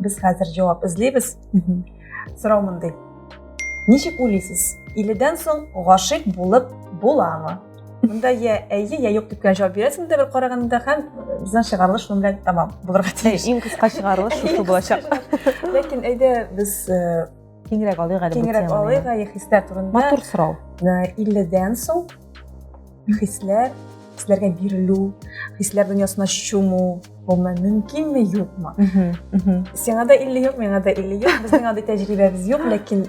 Без хәзер җавап эзлибез. Сорау мондый. Ничек уйлыйсыз, иледән соң гашыйк булып буламы? Монда я әйе, я юк дип кенә җавап бирәсең дә бер караганда һәм безнең чыгарылыш шуның белән тәмам булырга тиеш. Иң кыска чыгарылыш шушы булачак. Ләкин әйдә без киңрәк алыйк әле киңрәк алыйк әле хисләр турында матур сорау илледән соң хисләр хисләргә бирелү хисләр дөньясына чуму гомумән мөмкинме юкмы сиңа да илле юк миңа да илле юк безнең андый тәҗрибәбез юк ләкин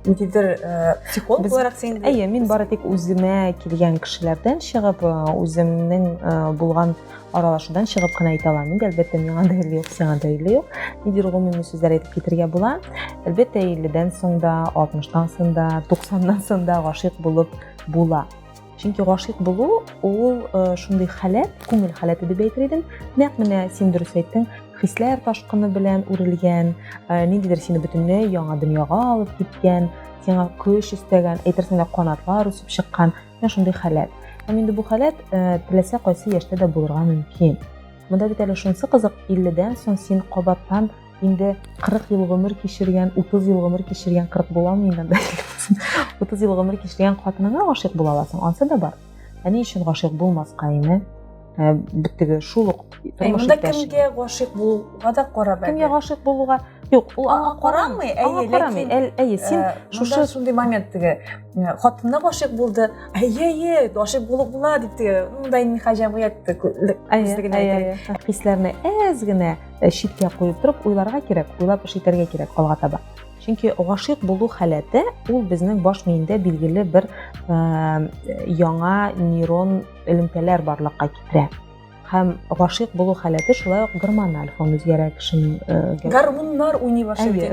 ниндидер э, психолог буларак син әйе мин бары тик үземә килгән кешеләрдән чыгып э, үземнең э, булган аралашудан чыгып кына әйтә алам инде әлбәттә миңа да иле юк сиңа да иле юк нидер гомуми сүзләр әйтеп китергә була әлбәттә илледән соң да алтмыштан соң да туксаннан соң да гашыйк булып була чөнки гашыйк булу ул э, шундый халәт күңел халәте дип әйтер идем нәкъ менә син дөрес әйттең хисләр ташкыны белән үрелгән э, ниндидер сине бөтенләй яңа дөньяга алып киткән сиңа көч өстәгән әйтерсең лә канатлар үсеп чыккан Менә шундый халәт. Һәм инде бу халәт э, теләсә кайсы яшьтә дә булырга мөмкин. Монда бит әле шунсы кызык, 50-дән соң син кабаттан инде 40 ел гомер кичергән, 30 ел гомер кичергән, 40 була алмый инде 30 ел гомер кичергән хатыныңа гашыйк була аласың, ансы да бар. Ә ни өчен гашыйк булмаска инде? ә, беттеге шул ук тормыш монда кемгә гашыйк булуга да карап кемгә гашыйк булуга юк ул аңа карамый әйе ләкин әйе син э, шушы шундый момент теге э, хатынына гашыйк булды әйе әйе гашыйк булып була дип теге мындай нихә җәмгыятьте хисләрне әз генә э, читкә куеп торып уйларга кирәк уйлап эш итәргә кирәк алга таба чөнки гашыйк булу халәте ул безнең баш миендә билгеле бер яңа нейрон элемтәләр барлыкка китерә һәм гашыйк булу халәте шулай ук гормональ фон үзгәрә кешенең э, гармуннар уйный башлый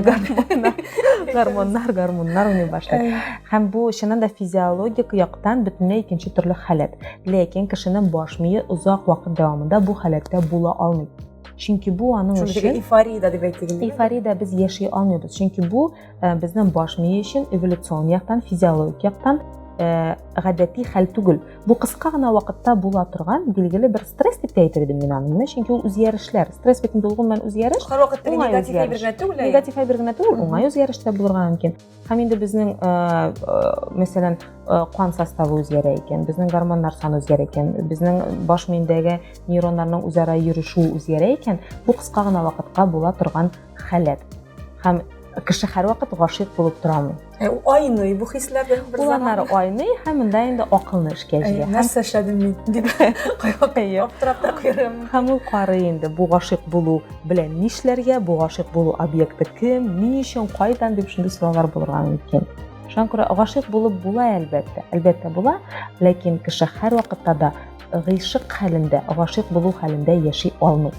гармуннар гармуннар уйный башлый һәм бу чыннан да физиологик яктан бөтенләй икенче төрле халәт ләкин кешенең баш мие озак вакыт дәвамында бу халәттә була алмый чөнки бу аның өчен эйфория дип әйтелгән эйфория без яши алмыйбыз чөнки бу э, безнең баш мие өчен эволюцион яктан физиологик яктан э, гадәти хәл түгел бу кыска гына вакытта була торган билгеле бер стресс дип әйтер идем мин аны менә чөнки ул үзгәрешләр стресс бит инде ул гомумән үзгәреш һәрвакыт негатив әйбер генә түгел негатив әйбер генә түгел уңай үзгәреш тә булырга мөмкин һәм инде безнең э, мәсәлән кан составы үзгәрә икән безнең гормоннар саны үзгәрә икән безнең баш миендәге нейроннарның үзара йөрешүе үзгәрә икән бу кыска гына вакытка була торган халәт һәм кеше һәрвакыт гашыйк булып тора алмый э, айный бу хисләр бер заман айный һәм монда инде акылны эшкә җыя э, нәрсә эшләдем мин дип аптырап та куярым һәм ул карый инде бу гашыйк булу белән нишләргә бу гашыйк булу объекты кем ни өчен кайдан дип шундый сораулар булырга мөмкин шуңа күрә гашыйк булып була әлбәттә әлбәттә була ләкин кеше һәрвакытта да гыйшык хәлендә гашыйк булу хәлендә яши алмый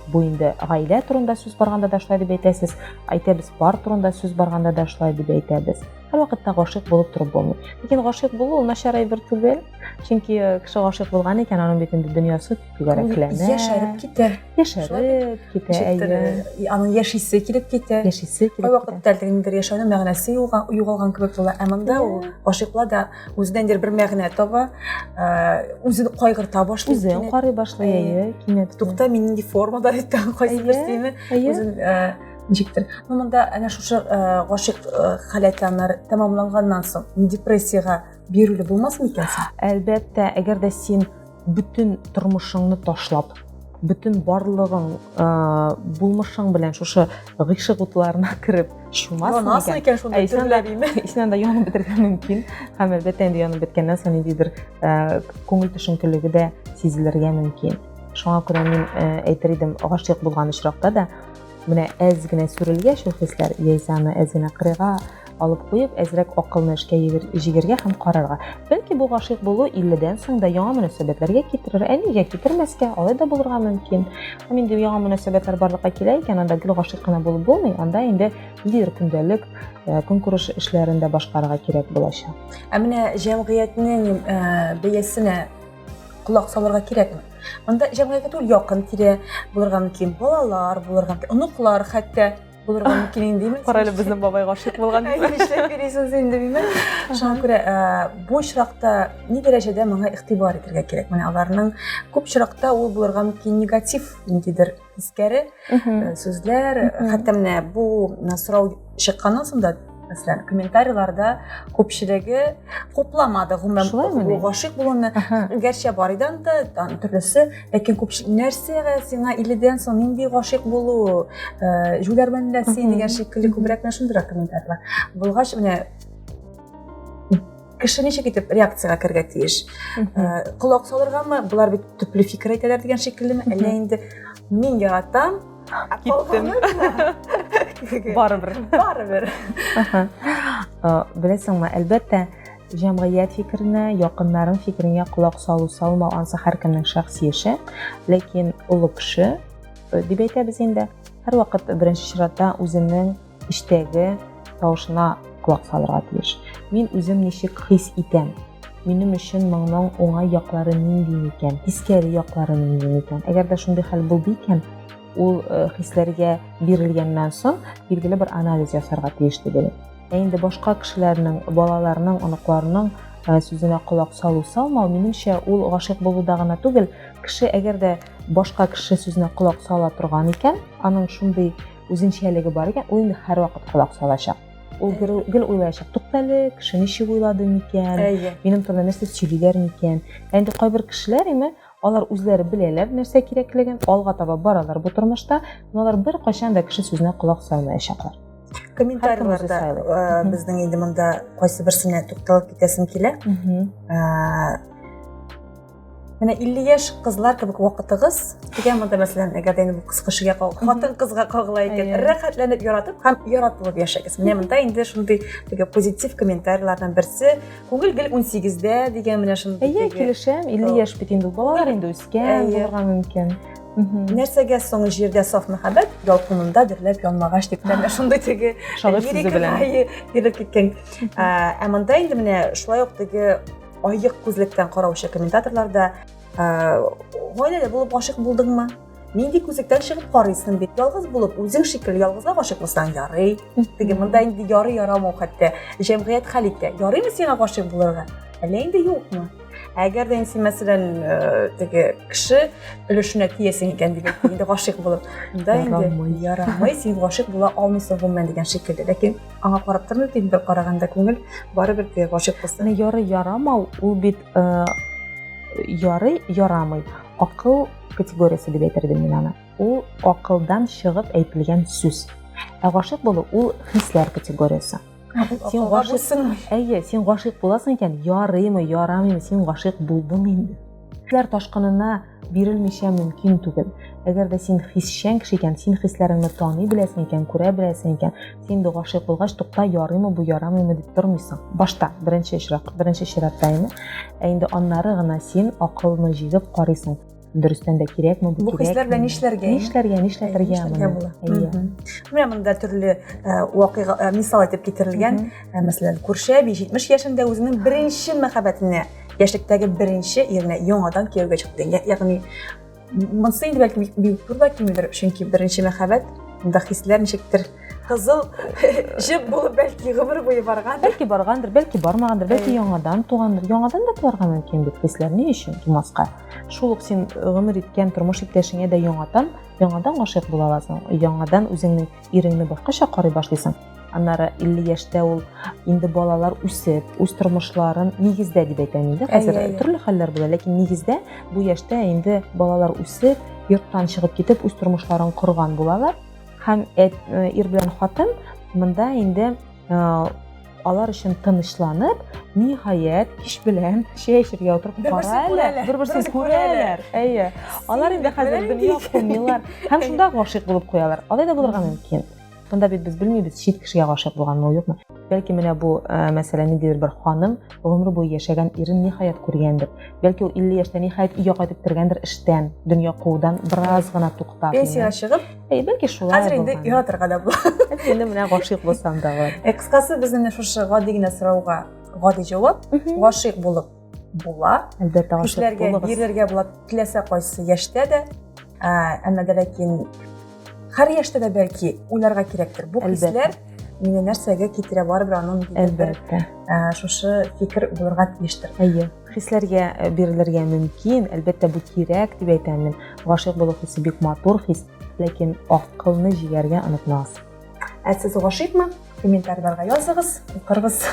Бу инде гаилә турында сүз барганда да шулай дип әйтәсез, әйтәбез, пар турында сүз барганда да шулай дип әйтәбез. Һәрвакытта гашыйк булып торып булмый. Ләкин гашыйк булу начар әйбер түгел. Чөнки э, кеше гашыйк булган икән, аның бит инде дөньясы түгәрәкләнә. Яшәреп китә. Яшәреп китә. Әйе. Аның яшисе килеп китә. Яшисе килеп китә. Кайвакытта әлегә ниндер яшәүнең мәгънәсе югалган кебек була. Ә монда ул гашыйклар да үзеннән дер бер мәгънә таба, үзен кайгырта башлый. Үзен карый башлый, әйе, кинәт. Тукта, мин нинди формада иттем, кайсы бер сине үзен ничектер. Ну монда әнә шушы гашык халәтләннәр тәмамланганнан соң депрессиягә бирүле булмас микән? Әлбәттә, әгәр дә син Бөтен тормышыңны ташлап, бөтен барлыгың, булмышың белән шушы гыйшык утларына кереп чумасың икән. Янасың икән шунда төрле димме? Исенә дә янып бетергә мөмкин. Һәм әлбәттә инде янып беткәннән соң ниндидер күңел төшенкелеге дә сизелергә мөмкин. Шуңа күрә мин әйтер идем, гашыйк булган очракта да Менә әз генә сүрелгәч ул хисләр, яисә аны әз генә кырыйга алып куеп, әзрәк акылны эшкә җигергә һәм карарга. Бәлки бу гашыйк булу 50-дән соң да яңа мөнәсәбәтләргә китерер, ә нигә китермәскә, алай да булырга мөмкин. Һәм инде яңа мөнәсәбәтләр барлыкка килә икән, анда гел гашыйк кына булып булмый, анда инде лир көндәлек э, көнкүреш эшләрен дә башкарырга кирәк булачак. Ә менә җәмгыятьнең э, бәясенә Колак салырга кирәкме? Монда җәмгыятькә түгел, якын тирә булырга мөмкин, балалар булырга мөмкин, оныклар хәтта булырга мөмкин инде димәк. Кара әле безнең бабай гашыйк булган дип. Нишләп йөрисез инде димәк. Шуңа күрә бу очракта ни дәрәҗәдә моңа игътибар итәргә кирәк? Менә аларның күп очракта ул булырга мөмкин негатив ниндидер тискәре сүзләр хәтта менә бу сорау чыкканнан соң да мәсәлән комментарийларда күпчелеге хупламады гомумән гашыйк булуны гәрчә бар иде анда төрлесе ләкин күпчелек нәрсәгә сиңа иледән соң нинди гашыйк булу э, җүләрмен дә син дигән шикелле күбрәк менә шундыйрак комментарийлар булгач менә кеше ничек итеп реакцияга керергә тиеш колак э, салыргамы болар бит төпле фикер әйтәләр дигән шикеллеме әллә инде мин яратам киттем барыбер барыбер беләсеңме әлбәттә җәмгыять фикеренә якыннарың фикереңә колак салу салмау ансы һәркемнең шәхси эше ләкин олы кеше э, дип әйтәбез инде һәрвакыт беренче чиратта үзенең эчтәге тавышына колак салырга тиеш. Мин үзем ничек хис итәм? Минем өчен моңның уңай яклары нинди микән? Тискәре яклары нинди микән? Әгәр дә шундый хәл булды икән, ул э, хисләргә бирелгәннән соң билгеле бер анализ ясарга тиеш түгел. Ә инде башка кешеләрнең, балаларның, оныкларның э, сүзенә колак салу салмау, минемчә, ул гашыйк булуда гына түгел, кеше әгәр дә башка кеше сүзенә колак сала торган икән, аның шундый үзенчәлеге бар икән, ул инде һәрвакыт колак салачак. Ул гел уйлаячак, туктале, кеше ничек уйлады микән, минем турында нәрсә сөйлиләр микән. Әнде кайбер кешеләр име, алар үзләре беләләр нәрсә кирәклеген, алга таба баралар бу тормышта, но алар бер кайчан да кеше сүзенә колак салмаячаклар. комментарийларда э, безнең инде монда кайсы берсенә тукталып китәсем килә э, Менә 50 яшь кызлар кебек вакытыгыз дигән монда мәсәлән, әгәр дә бу кыз кешегә хатын кызга кагыла икән, рәхәтләнеп яратып һәм яратылып яшәгез. Менә монда инде шундый теге позитив комментарийлардан берсе, күңел гел 18-дә дигән менә шундый. Әйе, килешәм, 50 яшь бит инде, балалар инде үскән, булырга мөмкин. Нәрсәгә соң җирдә саф мәхәббәт, ялкынында дөрләп янмагач дип тә шундый теге шагыйрь сүзе белән килеп киткән. Ә монда инде менә шулай ук теге айык күзлектән караучы комментаторлар да гаиләле булып гашык булдыңмы нинди күзлектән чыгып карыйсың бит ялгыз булып үзең шикелле ялгызга гашык булсаң ярый теге монда инде ярый ярамау хәтта җәмгыять хәл итә ярыймы сиңа гашык булырга әллә инде юкмы әгәр дә син мәсәлән теге кеше өлешенә тиясең икән дигән инде гашык булып монда инде ярамый син гашык була алмыйсың гомумән дигән шикелле ләкин аңа карап тормый бит бер караганда күңел барыбер теге гашыйк кызны яры ярамау ул бит э, ярый ярамый акыл категориясе дип әйтер идем мин аны ул акылдан чыгып әйтелгән сүз ә гашыйк булу ул хисләр категориясе сен гашыйк әйе син гашыйк буласың икән ярыймы ярамыймы син гашыйк булдың инде хисләр ташкынына бирелмичә мөмкин түгел. Әгәр дә син хисчән кеше икән, син хисләреңне таный беләсең икән, күрә беләсең икән, син инде гашыйк булгач, тукта, ярыймы бу, ярамыймы дип тормыйсың. Башта, беренче очрак, беренче чиратта инде. Ә инде аннары гына син акылны җигеп карыйсың. Дөрестән дә кирәкме бу? Бу хисләр белән нишләргә? Нишләргә, нишләтергә моны? Әйе. Менә монда төрле э, вакыйга э, мисал итеп китерелгән. Э, мәсәлән, күрше әби 70 яшендә үзенең беренче мәхәббәтенә яшьлектәге беренче иренә яңадан кияүгә чыкты. Ягъни монысы инде бәлки бик зур да кимедер, чөнки беренче мәхәббәт да хисләр ничектер кызыл җеп булып бәлки гомер буе барган. Бәлки баргандыр, бәлки бармагандыр, бәлки яңадан тугандыр. Яңадан да туарга мөмкин бит хисләр ни өчен тумаска? Шул ук син гомер иткән тормыш иптәшеңә дә яңадан, яңадан гашыйк була аласың. Яңадан үзеңнең иреңне башкача карый башлыйсың аннары 50 яшьтә ул инде балалар үсеп, үз тормышларын нигездә дип әйтәм инде. Хәзер төрле хәлләр була, ләкин нигездә бу яшьтә инде балалар үсеп, йорттан чыгып китеп, үз тормышларын корган булалар. Һәм э, ир белән хатын монда инде э, алар өчен тынычланып, ниһаять, кич белән чәй эчәргә утырып кара әле, бер-берсен күрәләр. Әйе. Алар инде хәзер дөнья кумилар һәм шунда гашыйк булып куялар. Алай да булырга мөмкин. Бында бит без белмибез, чит кешегә гашыйк булганмы, юкмы. Бәлки менә бу э, мәсьәлә ниндидер бер ханым гомер буе яшәгән ирен ниһаять күргәндер. Бәлки ул 50 яшьтә ниһаять өйгә кайтып кергәндер эштән, дөнья куудан бераз гына туктап. Пенсиягә чыгып, Әй, бәлки шулай. Хәзер инде яратырга да була. Әтине менә гашыйк булсам да бар. Э, кыскасы без менә шушы гади генә сорауга гади җавап, гашыйк булып була. Әлбәттә, гашыйк булыгыз. Кешеләргә бирергә була, теләсә кайсы яшьтә дә. Ә, әмма дә ләкин һәр яшьтә дә бәлки уйларга кирәктер. Бу хисләр мине нәрсәгә китерә барыбер аның әлбәттә. Ә, шушы фикер булырга тиештер. Әйе. хисләргә э, бирелергә мөмкин әлбәттә бу кирәк дип әйтәм мин гашыйк булу хисе бик матур хис ләкин акылны җигәргә онытмагыз ә сез гашыйкмы комментарийларга языгыз укырбыз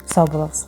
сау булыгыз